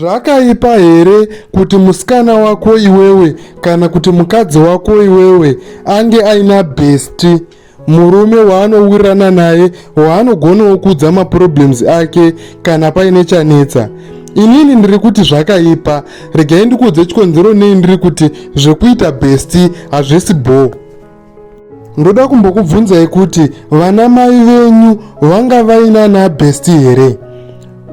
Zvakaipa here kuti musikana wako iwewe kana kuti mukadzi wako iwewe ange aina besti murume waanowirirana naye waanogonawo kuudza maproblems ake kana paine chanetsa? inini ndiri kuti zvakaipa regai ndikuudze chikonzero nei ndiri kuti zvekuita besti hazvisi bhoo ndoda kumbokubvunzai kuti vana mai venyu vanga vainana besti here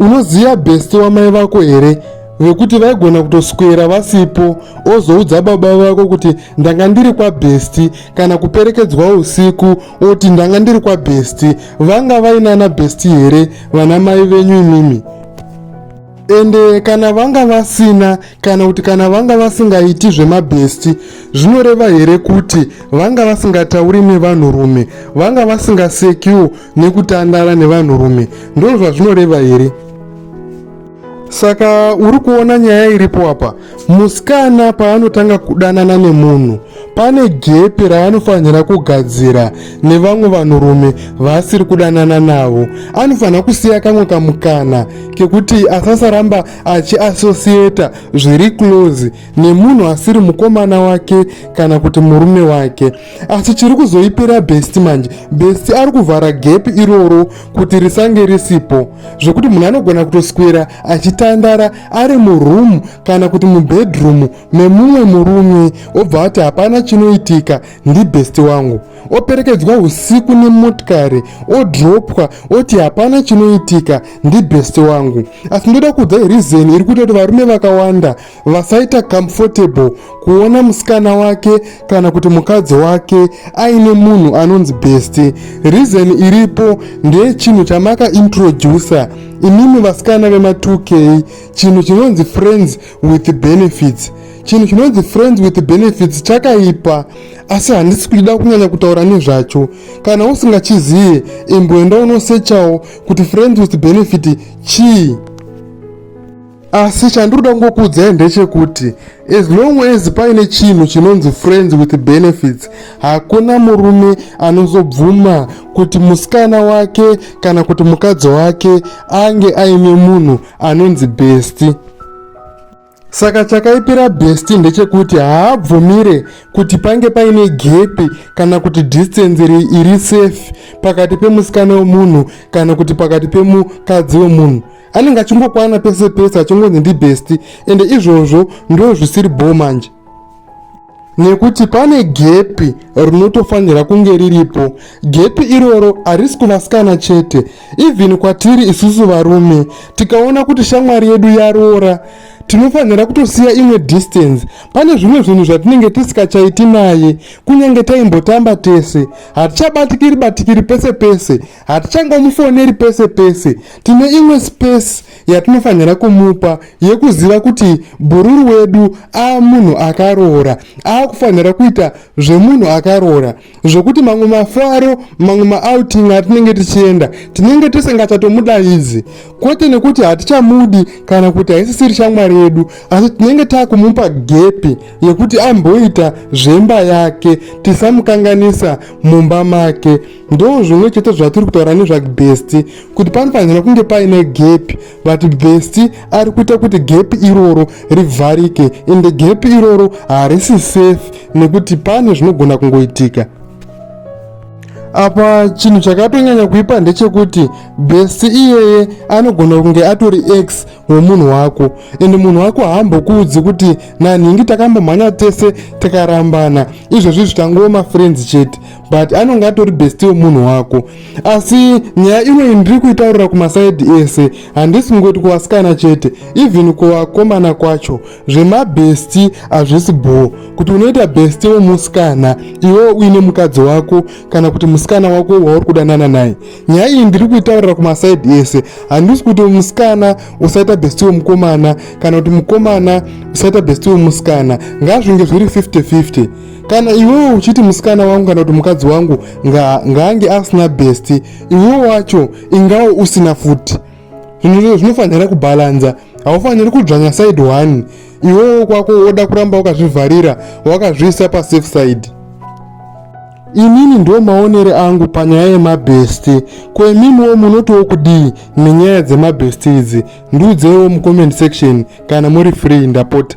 unoziva besti wamai vako here vekuti vaigona kutoswera vasipo ozoudza baba vako kuti ndanga ndiri kwabhesti kana kuperekedzwa usiku oti ndanga ndiri kwabhesti vanga vainana bhesti here vana mai venyu imimi ende kana vanga vasina kana kuti kana vanga vasingaiti zvemabhesti zvinoreva here kuti vanga vasingatauri nevanhurume vanga vasingasekiwo nekutandara nevanhurume ndozvazvinoreva here saka uri kuona nyaya iripo apa Musikana paanotanga kudanana nemunhu pane gepi raanofanira kugadzira nevamwe vanhurume vaasiri kudanana navo. Anofanira kusiya kamwe kamukana kekuti asasaramba achiasosiyeta zviri close nemunhu asiri mukomana wake kana kuti murume wake. Asi chiri kuzoipira besti manje, besti ari kuvhara gepi iroro kuti risange risipo zvekuti munhu anogona kutoswera achitandara ari muroom kana kuti mubedroom memumwe murume obva ati hapana chinoitika ndibest wangu operekedzwa usiku nemotikari odropwa oti hapana chinoitika ndibest wangu asi ndoda kuudza reason iri kuita kuti varume vakawanda vasaita comfortable kuona musikana wake kana kuti mukadzi wake aine munhu anonzi besti reason iripo ndeye chinhu chamaka introducer imimi vasikana vema 2k chinhu chinonzi friends with benefits chinhu chinonzi friends with benefits chakaipa asi handisi kuchida kunyanya kutaura nezvacho kana usingachizive imboenda unosechawo kuti friends with benefit chii asi chandinoda kungokuudzai ndechekuti as long as paine chinhu chinonzi friends with benefits hakuna murume anozobvuma kuti musikana wake kana kuti mukadzi wake ange aine munhu anonzi besti saka chakaipira besti ndechekuti haabvumire kuti pange paine gepi kana kuti distance iri safe pakati pemusikana wemunhu kana kuti pakati pemukadzi wemunhu anenge achingokwana pese pese achingonzi ndibesti ende izvozvo ndo zvisiri bho manje nekuti pane gepi rinotofanira kunge riripo gepi iroro harisi kuvasikana chete even kwatiri isusu varume tikaona kuti shamwari yedu yaroora tinofanira kutosiya imwe distance pane zvimwe zvinhu zvatinenge tisikachaiti naye kunyange taimbotamba tese hatichabatikiri batikiri pese pese hatichangomufoneri pese pese tine imwe space yatinofanira kumupa yekuziva kuti bhururu wedu ava munhu akaroora ava kufanira kuita zvemunhu akaroora zvokuti mamwe mafaro mamwe maouting atinenge tichienda tinenge tisingachatomudaidzi kwete nekuti hatichamudi kana kuti haisisiri shamwari yedu asi tinenge takumupa gepi yekuti amboita zvemba yake tisamukanganisa mumba make ndo zvimwe chete zvatiri kutaura nezvagbesti kuti panofanira kunge paine gepi but besti ari kuita kuti gepi iroro rivharike ende gepi iroro harisi safe nekuti pane zvinogona kungoitika apa chinhu chakatonyanya kuipa ndechekuti besti iyeye anogona kunge atori x wemunhu wako ende munhu wako haambokuudzi kuti nanhingi takambomhanya tese takarambana izvozvi zvitangova mafriends chete but anonge atori besti wemunhu wako asi nyaya inoyi ndiri kuitaurira kumasaidi ese handisi kungoti kuvasikana chete even kuvakomana kwacho zvemabesti hazvisi bho kuti unoita besti wemusikana iwewo uine mukadzi wako kana kuti musikana wako wauri kudanana naye nyaya iyi ndiri kuitaurira kumasaidi ese handisi kuti musikana usaita besti wemukomana kana kuti mukomana usaita besti wemusikana ngazvinge zviri 50-50 kana iwewo uchiti musikana wangu kana kuti mukadzi wangu ngaange asina besti iwewo wacho ingawo usina futi zvinhu zvinofanira kubhalanza haufaniri kudzvanya side one iwewo kwako woda kuramba wakazvivharira wakazviisa pasafe side Inini ndo maonere angu panyaya yemabhesti ko imimiwo munotiwo kudii nenyaya dzemabhesti idzi ndiudzeiwo mucomment section kana muri free ndapota